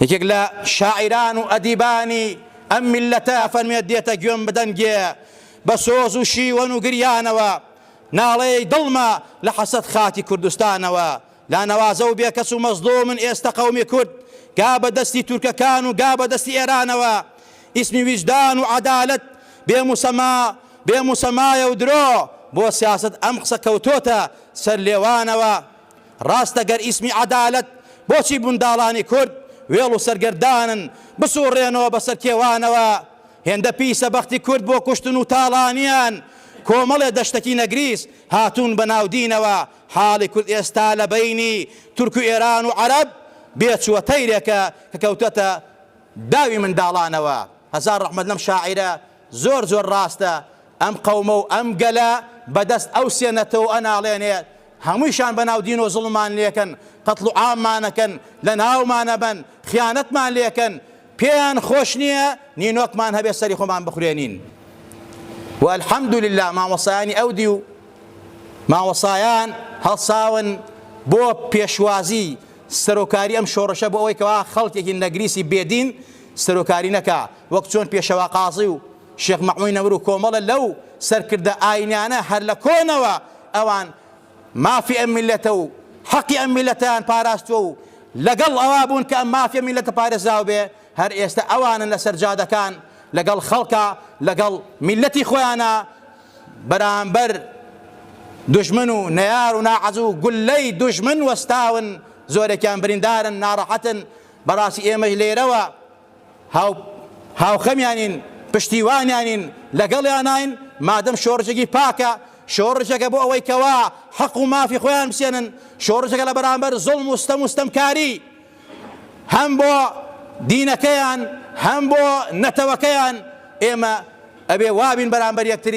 یەکێک لە شاعیران و ئەدیبانی ئەم میلەتە فەرمێت دێتە گوێم بدەنگێ بە سۆز و شیوەن و گریانەوە ناڵەیەی دڵمە لە حەسەت خاکی کوردستانەوە لا نەوازە و بێکەس و مەزلومن ئێستا قەومی کورد گا بە دەستی تورکەکان و گا بە دەستی ئێرانەوە ئیسمی ویژدان و عەدالەت بێ موسەما بێ موسەمایە و درۆ بۆ سیاست ئەم قسە کەوتۆتە سەر لێوانەوە ڕاستە گەر ئیسمی عەدالەت بۆچی منداڵانی کورد وێڵ و سەرگەردانن بسوڕێنەوە بەسەر کێوانەوە هێندە پیسە بەختی کورد بۆ کوشتن و تاڵانیان کۆمەڵێ دەشتەکی نەگریس هاتوون بە ناودینەوە حاڵی کورد ئێستا لە بەینی تورک و ئێران و عەرەب بێچووە تەیرێکە کە کەوتەتە داوی منداڵانەوە هەزار ڕەحمەت لەم شاعیرە زۆر زۆر ڕاستە ئەم قەومە و ئەم گەلە بە دەست ئەو سێ نەتەوە ئەناڵێنێت هەموویشان بە ناو دینۆ زوڵممان لێکەن قەتڵ و عاممانەکەن لە ناومان ئەبەن خیانەتمان لێکەن پێیان خۆش نییە نینۆکمان هەبێ سەری خۆمان بخورێنین و الحمد لله مامۆسایانی ئەو دیو مامۆسایان هەڵساون بۆ پێشوازی سەرۆکاری ئەم شۆڕشە بۆ ئەوەی کەوا خەڵکێکی نەگریسی بێدین سەرۆکاری نەکا، وەک چۆن پێشەوا قازی و شێخ مەعمووی نەمر و کۆمەڵە لەو سەرکردە ئایینیانە هەر لە کۆنەوە ئەوان مافی ئەم میللەتە و حەقی ئەم میللەتەیان پاراستووە و لەگەڵ ئەوە بوون کە ئەم مافی ئەم میللەتە پارێزراو بێ، هەر ئێستە ئەوانن لەسەر جادەکان لەگەڵ خەڵکا لەگەڵ میللەتی خۆیانا بەرامبەر دوژمن و نەیار و ناعەزوو گوللەی دوژمن وەستاون، زۆرێکیان بریندارن، ناڕەحەتن، بەڕاستی ئێمەش لێرەوە هاو هاوخەمیانین، پشتیوانیانین، لەگەڵیاناین، مادەم شۆڕشێکی پاکە، شۆڕشێکە بۆ ئەوەی کەوا حەق و مافی خۆیان بسێنن، شۆڕشێکە لەبەرامبەر زوڵم و ستەم و ستەمکاری هەم بۆ دینەکەیان، هەم بۆ نەتەوەکەیان، ئێمە ئەبێ وابین بەرامبەر یەکتری.